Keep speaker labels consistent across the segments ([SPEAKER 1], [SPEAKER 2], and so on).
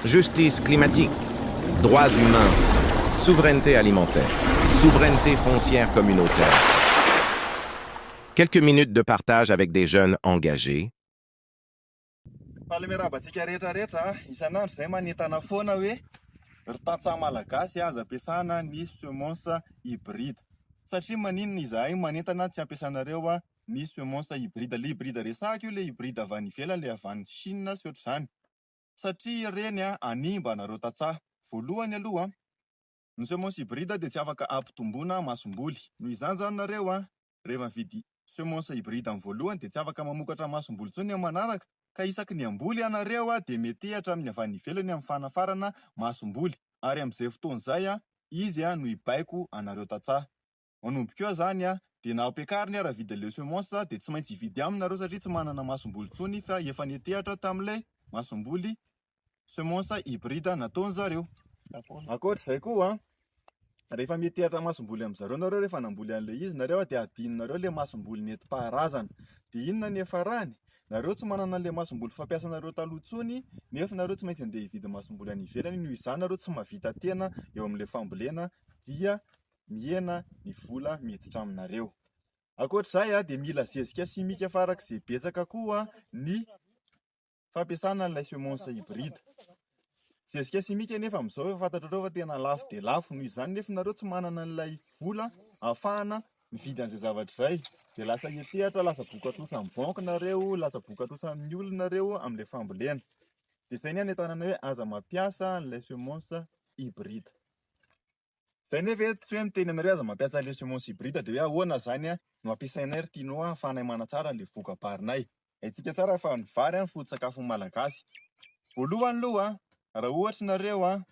[SPEAKER 1] Justice climatique, droits humains, souveraineté alimentaire, souveraineté foncière communautaire, quelques minutes de partage avec des jeunes engagés. Faly
[SPEAKER 2] miarahaba antsika rehetra rehetra a! Isan'andro izay manentana foana hoe ry tantsaha malagasy aza ampiasana ny semences hybrides satria maninona izahay manentana tsy ampiasanareo ny semences hybrides le hybride resahiko io le hybride avy any ivelany le avy any chine sy ohatr'izany Satria ireny hanimba anareo tantsaha. Voalohany aloha, ny semences hybrides dia tsy afaka ampitomboina masomboly. Noho izany izany nareo rehefa mividy semences hybrides amin'ny voalohany dia tsy afaka mamokatra masomboly intsony amin'ny manaraka ka isaky ny hamboly ianareo dia metehatra amin'ny avy any ivelany amin'ny fanafarana masomboly ary amin'izay fotoana izay izy no hibaiko anareo tantsaha. Manomboka eo zany a, de na ampiakariny ara vide le semence a, de tsy maintsy hividy aminy nareo satria tsy manana masomboly tsony fa efa netehatra tamle masomboly semence hybride nataony zareo. Ankoatra zay koa a, rehefa metehatra masomboly am zareo nareo rehefa namboly anle izy nareo a, de adino nareo le masomboly netipaharazana, de inona ny hiafarany? Nareo tsy manana anle masomboly fampiasa nareo taloha tsony nefa nareo tsy maintsy ande hividy masomboly any ivelany, noho izany nareo tsy mahavita tena eo amle fambolena dia mihena ny vola miditra aminareo. Ankoatr'izay dia mila zezika simika farak'izay betsaka koa ny fampiasana an'ilay semonsa hybride. Zezika simika anefa amin'izao efa fantatrareo fa tena lafo dia lafo, noho izany nefa nareo tsy manana an'ilay vola ahafahana mividy an'izay zavatra izay dia lasa hiantehatra, lasa vokatrosan'ny banky nareo, lasa vokatrosan'ny olona nareo amin'ilay fambolena. Dia izay ny anentanana hoe aza mampiasa an'ilay semonsa hybride. Zay nefa eto tsy hoe miteny anareo aza mampiasa le semences hybrides de hoe ahoana zany a no ampiasainay ry Tino a afahanay manatsara le vokabarinay. Haintsika tsara fa ny vary a ny foto-tsakafon'ny malagasy. Voalohany loha a raha ohatra nareo a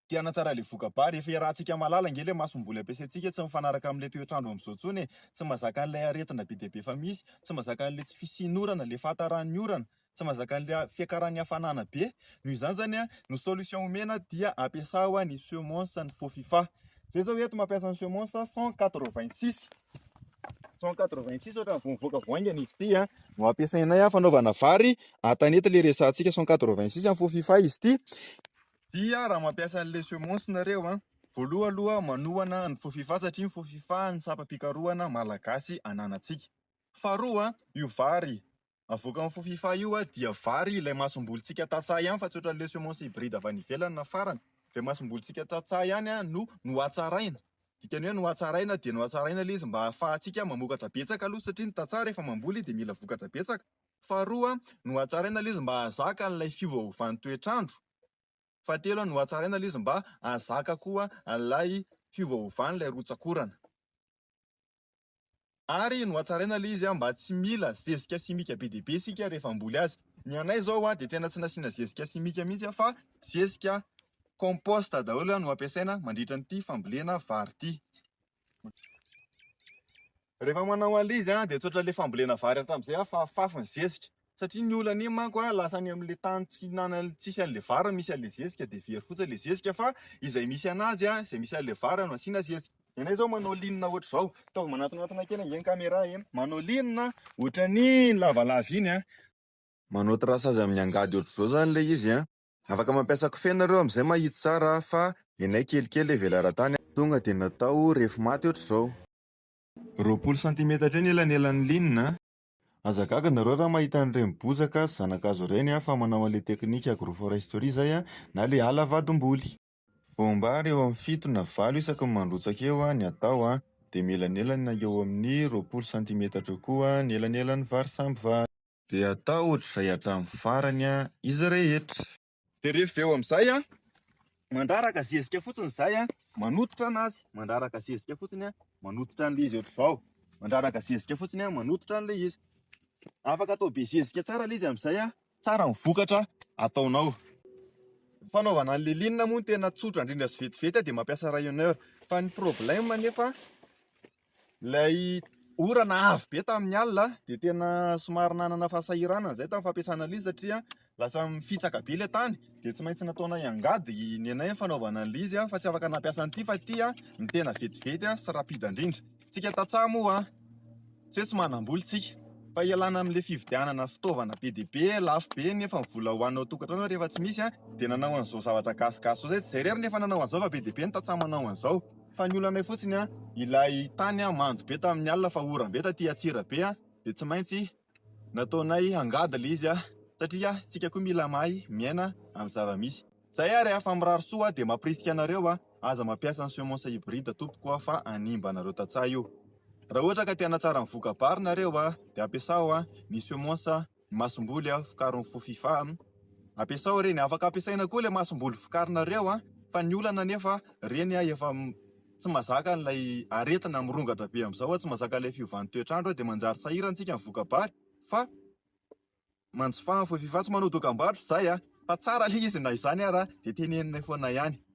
[SPEAKER 2] te hanatsara le vokabary efa iarahantsika mahalala ange le masomboly ampiasaintsika tsy mifanaraka amle toetrandro amzao tsony e, tsy mazaka anle aretina be dia be efa misy, tsy mazaka anle tsy fisian'orana, le fahataran'ny orana, tsy mahazaka an'ilay fiakaran'ny hafanana be, noho izany zany a, ny solution omena dia ampiasao ny semonsa ny faux fifa, zay zao eto mampiasa ny semonsa cent quatre vingt six, cent quatre vingt six ohatrany vao mivoaka vao haingana izy ity a, no ampiasainay a fanaovana vary, an-tanety ilay resahantsika cent quatre vingt six faux fifa izy ity, dia raha mampiasa an'ilay semonsa nareo a, voaloha aloha manohana ny faux fifa satria ny faux fifa no sampam-pikarohana malagasy ananantsika, faharoa io vary avoakan'ny fofifa io a, dia vary ilay masombolintsika tantsaha ihany fa tsy ohatran'ny le semence hybride avy any ivelany na farany, dia masombolintsika tantsaha ihany a no nohatsaraina, dikany hoe nohatsaraina dia nohatsaraina le izy mba hahafahantsika mamokatra betsaka aloha satria ny tantsaha rehefa mamboly dia mila vokatra betsaka, faharoa a nohatsaraina le izy mba hahazaka an'ilay fiovaovan'ny toetr'andro, fahatelo a nohatsaraina le izy mba hahazaka koa an'ilay fiovaovan'ilay rotsakorana. Ary nohatsaraina ilay izy mba tsy mila zezika simika be dia be isika rehefa hamboly azy. Ny anay izao dia tena tsy nasiana zezika simika mihitsy fa zezika compost daholo no ampiasaina mandritra an'ity fambolena vary ity. Rehefa manao an'ilay izy dia tsotra ilay fambolena vary hatramin'izay fa fafy ny zezika. satria ny olana iny manko a lasa any amin'ilay tany tsy nana tsisy an'ilay vary misy an'ilay zezika dia very fotsiny ilay zezika fa izay misy anazy a izay misy an'ilay vary no asiana zezika ianay izao manao linina ohatr'izao ataovy manatonatona kely ange ny caméra e manao linina ohatran'ny lavalava iny a manao traçage amin'ny angady ohatr'izao izany ilay izy a afaka mampiasa kofehy nareo amin'izay mba hahitsy tsara fa ianay kelikely e velaran-tany a tonga dia natao refy maty ohatr'izao. Roapolo santimetatra eo ny elanelan'ny linina a. Aza gaga nareo raha mahita an'ireny bozaka sy zanakazo ireny a, fa manao an'ilay teknika agroforesterie izay a, na le ala vadim-boly. Voam-bary eo amin'ny fito na valo isaky ny mandrotsaka eo a, ny atao a, dia mielanelany na eo amin'ny roapolo santimetatra eo koa ny elanelan'ny vary samby vary. Dia atao ohatr'izay hatramin'ny farany a, izy rehetra. Dia rehefa avy eo amin'izay an, mandraraka zezika fotsiny izay an, manototra an'azy, mandraraka zezika fotsiny an, manototra an'ilay izy ohatr'izao, mandraraka zezika fotsiny an, manototra an'ilay izy. Afaka atao be zezika tsara ilay izy amin'izay an, tsara ny vokatra ataonao. Ny fanaovana an'ilay linina moa no tena tsotra indrindra sy vetivety an, dia mampiasa rayonneur. Fa ny problème anefa, Ilay orana avo be tamin'ny alina dia tena somary nanana fahasahiranana izay tamin'ny fampiasana an'ilay izy satria lasa mifitsaka be ilay tany dia tsy maintsy nataonay angady ny anay fanaovana an'ilay izy fa tsy afaka nampiasa an'ity fa ity ny tena vetivety sy rapida indrindra. Isika tantsaha moa tsy hoe tsy manam-bola isika fa ialana amin'ilay fividianana fitaovana be dia be lafo be nefa ny vola ho anao tokantrano rehefa tsy misy dia nanao an'izao zavatra gasigasy izao izay tsy izay irery ny efa nanao an'izao fa be dia be ny tantsaha manao an'izao. Fa ny olanay fotsiny an, ilay tany an mando be tamin'ny alina fa oram be taty Antsirabe an, dia tsy maintsy nataonay angady ilay izy an, satria tsika koa mila mahay miaina amin'ny zava misy. Zay ary an, fa mirary soa an, dia mampirisika anareo an, aza mampiasa ny semences hybrides tompoko an, fa hanimba anareo tantsaha io. Raha ohatra ka te hanatsara ny voka bary nareo an, dia ampiasao an ny semences. masomboly a vokarin'ny fofifa a! ampiasao ireny, afaka ampiasaina koa ilay masomboly vokarinareo a! fa ny olana anefa ireny a efa tsy mazaka an'ilay aretina mirongatra be amin'izao a! tsy mazaka ilay fiovan'ny toetr'andro a! dia manjary sahirantsika ny voka-bary fa manjifa ny fofifa, tsy manao dokam-barotra izahay a! fa tsara ilay izy na izany ara dia tenenina foana ihany.